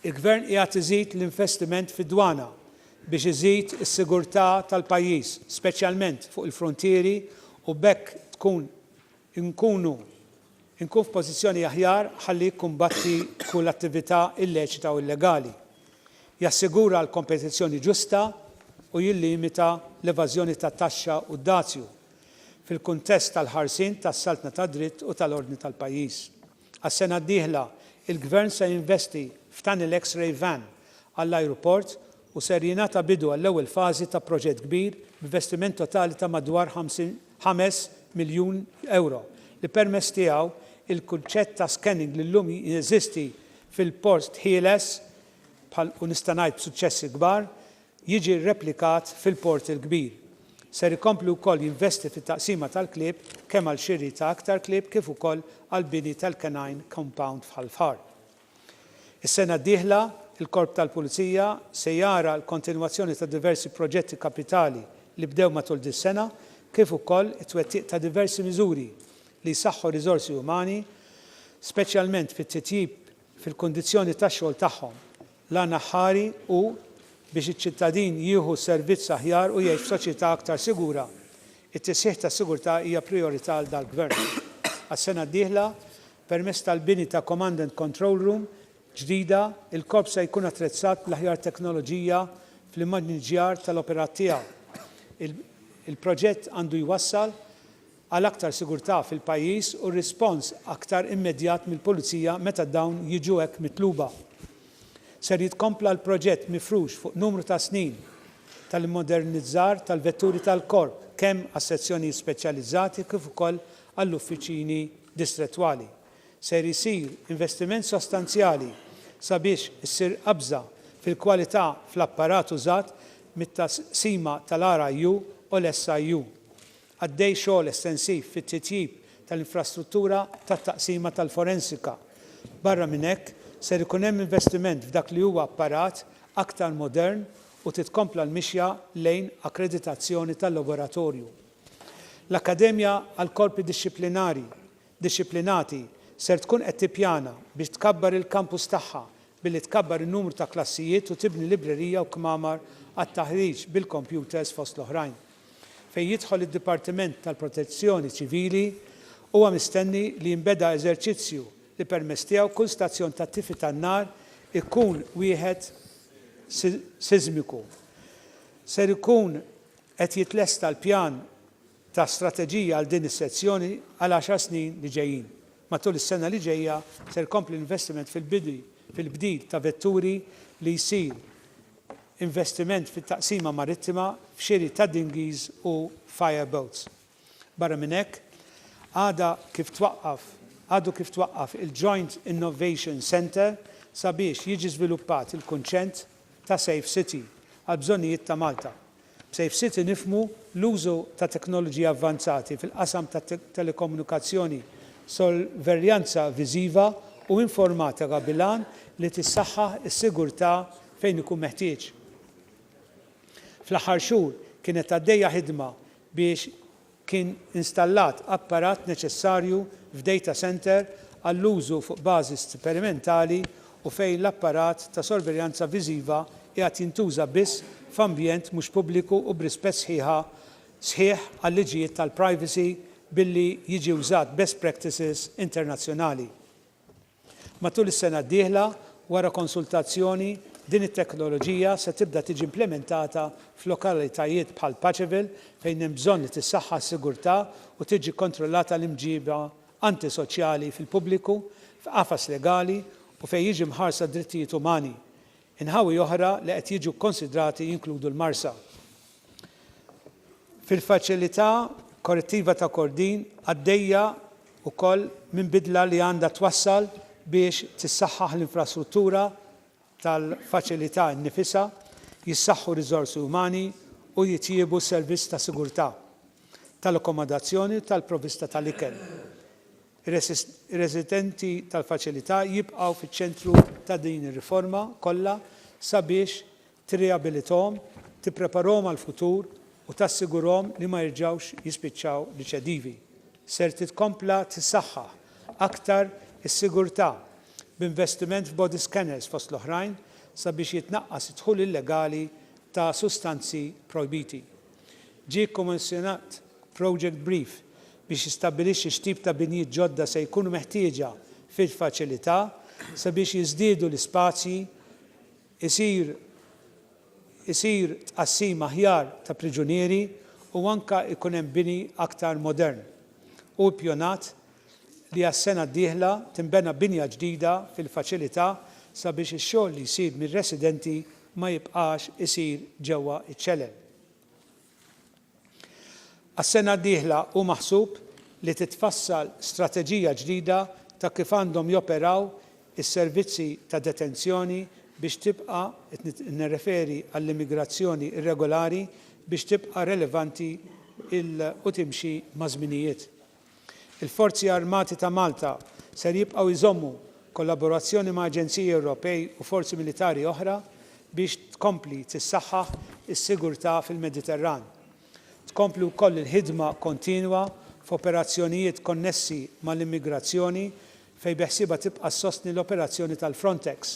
Il-Gvern qiegħed iżid l-investiment fid-dwana biex iżid is-sigurtà tal-pajjiż, speċjalment fuq il-fruntieri u b'hekk tkun inkunu inkun f'pożizzjoni aħjar ħalli jikkumbatti kull attività illeċita u illegali, jassigura l-kompetizzjoni ġusta u jillimita l-evażjoni tat-taxxa u d-dazju, fil-kuntest tal-ħarsien tas-saltna tad-dritt u tal-ordni tal-pajjiż. Għas-sena d-dieħla, il-Gvern se jinvesti f'Tunnel X-Ray Van għall-ajruport u ser jingħata bidu għall-ewwel fażi ta' proġett kbir b'investiment totali ta' madwar ħames miljun ewro li permezz tiegħu l-kunċett ta' scanning li llum jeżisti fil-Port Ħieles bħal u nista' ngħid b'suċċessi kbar jiġi rreplikat fil-Port il-Kbir. Ser ikompli wkoll jinvesti fit-taqsima tal-klieb kemm għal xiri ta' aktar klieb kif ukoll għall-bini tal-Canine Compound f'Ħal Far. Is-sena d-dieħla, il-Korp tal-Pulizija se jara l-kontinwazzjoni ta' diversi proġetti kapitali li bdew matul dis-sena kif ukoll it-twettiq ta' diversi miżuri li jsaħħu r-riżorsi umani, speċjalment bit-titjib fil-kundizzjoni tax-xogħol tagħhom. L-għan aħħari hu biex iċ-ċittadin jieħu servizz aħjar u jgħix f'soċjetà aktar sigura. It-tisħiħ tas-sigurtà hija prijorità għal dal-Gvern. Għas-sena d-dieħla, Permezz tal-bini ta' Command and Control Room ġdida, il-Korp se jkun attrezzat bl-aħjar teknoloġija fl-immaniġġjar tal-operat tiegħu. Il-proġett għandu jwassal għal aktar sigurtà fil-pajjiż u rispons aktar immedjat mill-Pulizija meta dawn jiġu hekk mitluba. Ser jitkompla l-proġett mifrux fuq numru ta' snin tal-immodernizzar tal-vetturi tal-Korp, kemm għas-sezzjonijiet speċjalizzati kif ukoll għall-uffiċini distrettwali. Ser isir investiment sostanzjali sabiex issir qabża fil-kwalità fl-apparat użat mit-taqsima tal-RIU u l-SIU. Għaddej xogħol estensiv fit-titjib tal-infrastruttura tat-taqsima tal-forensika. Barra minn hekk, ser ikun hemm investiment f'dak li huwa apparat aktar modern u titkompla l-mixja lejn akkreditazzjoni tal-laboratorju. L-Akkademja għall-Korpi Dixxiplinari Dixxiplinati ser tkun qed tippjana biex tkabbar il-kampus tagħha billi tkabbar in-numru ta' klassijiet u tibni librerija u kmamar għat-taħriġ bil-kompjuters fost l-oħrajn. Fejn jidħol id-Dipartiment tal-Protezzjoni Ċivili, huwa mistenni li jinbeda eżerċizzju li permezz tiegħu kull stazzjon tat-tifi tan-nar ikun wieħed siżmiku. Ser ikun Qed jitlesta l-pjan ta' strateġija għal din is-sezzjoni għal għaxar snin li ġejjin. Matul is-sena li ġejja ser ikompli l-investiment fil-bini fil-bdil ta' vetturi li jsir investiment fit-taqsima marittima f'xiri ta' dinghies u fire boats. Barra minn hekk, għada kif twaqqaf għadu kif twaqqaf il-Joint Innovation Centre sabiex jiġi żviluppat il-kunċent ta' Safe City għall-bżonnijiet ta' Malta. B'Safe City nifhmu l-użu ta' teknoloġiji avvanzati fil-qasam tat-telekomunikazzjoni, sorveljanza viżiva u informatika bil-għan li tissaħħaħ is-sigurtà fejn ikun meħtieġ. Fl-aħħar xhur kienet għaddejja ħidma biex kien installat apparat neċessarju f'data centre għall-użu fuq bażi sperimentali u fejn l-apparat ta' sorveljanza viżiva qiegħed jintuża biss f'ambjent mhux pubbliku u b'rispett sħiħa sħiħ għal-liġijiet tal-privacy billi jiġi wżat best practices internazzjonali. Matul is-sena d-dieħla, wara konsultazzjoni, din it-teknoloġija se tibda tiġi implimentata f'lokalitajiet bħal Paceville fejn hemm bżonn li tissaħħa s-sigurtà u tiġi kkontrollata l-imġiba antisoċjali fil-pubbliku f'qafas legali u fejn jiġi mħarsa d-drittijiet umani, Inħawi oħra li qed jiġu kkonsidrati jinkludu l-Marsa fil-Faċilità Korrettiva ta' Kordin, għaddejja wkoll minn bidla li għandha twassal biex tissaħħaħ l-infrastruttura tal-faċilità nnifisha, jissaħħu r-riżorsi umani u jitjiebu s-servizz ta' sigurtà, tal-akkomodazzjoni u tal-provvista tal-ikel. Ir-residenti tal-faċilità jibqgħu fiċ-ċentru ta' din ir-riforma kollha sabiex tirriabilithom, tippreparahom għall-futur u tassigurhom li ma jerġgħux jispiċċaw riċedivi. Ser titkompla tissaħħaħ aktar is-sigurtà b'investiment f'body scanners fost l-oħrajn sabiex jitnaqqas id-dħul illegali ta' sustanzi projbiti. Ġie kkommissjonat project brief biex jistabbilixxi x'tip ta' binjiet ġodda se jkunu meħtieġa fil-faċilità sabiex jiżdiedu l-ispazji, isir isir tqassim aħjar ta' priġunieri u anke jkun hemm bini aktar modern. Hu ippjonat li għas-sena d-dieħla tinbena binja ġdida fil-faċilità sabiex ix-xogħol li jsir mir-residenti ma jibqax isir ġewwa ċ-ċelel. Għas-sena d-dieħla hu maħsub li titfassal strateġija ġdida ta' kif għandhom joperaw is-servizzi ta' detenzjoni biex tibqa', qed nirreferi għall-immigrazzjoni irregolari, biex tibqa' relevanti u timxi maż-żminijiet. Il-Forzi Armati ta' Malta ser jibqgħu jżommu kollaborazzjoni ma' aġenziji Ewropej u forzi militari oħra biex tkompli tissaħħaħ is-sigurtà fil-Mediterran. Tkompli wkoll il-ħidma kontinwa f'operazzjonijiet konnessi mal-immigrazzjoni fejn beħsiebha tibqa' ssostni l-operazzjoni tal-Frontex.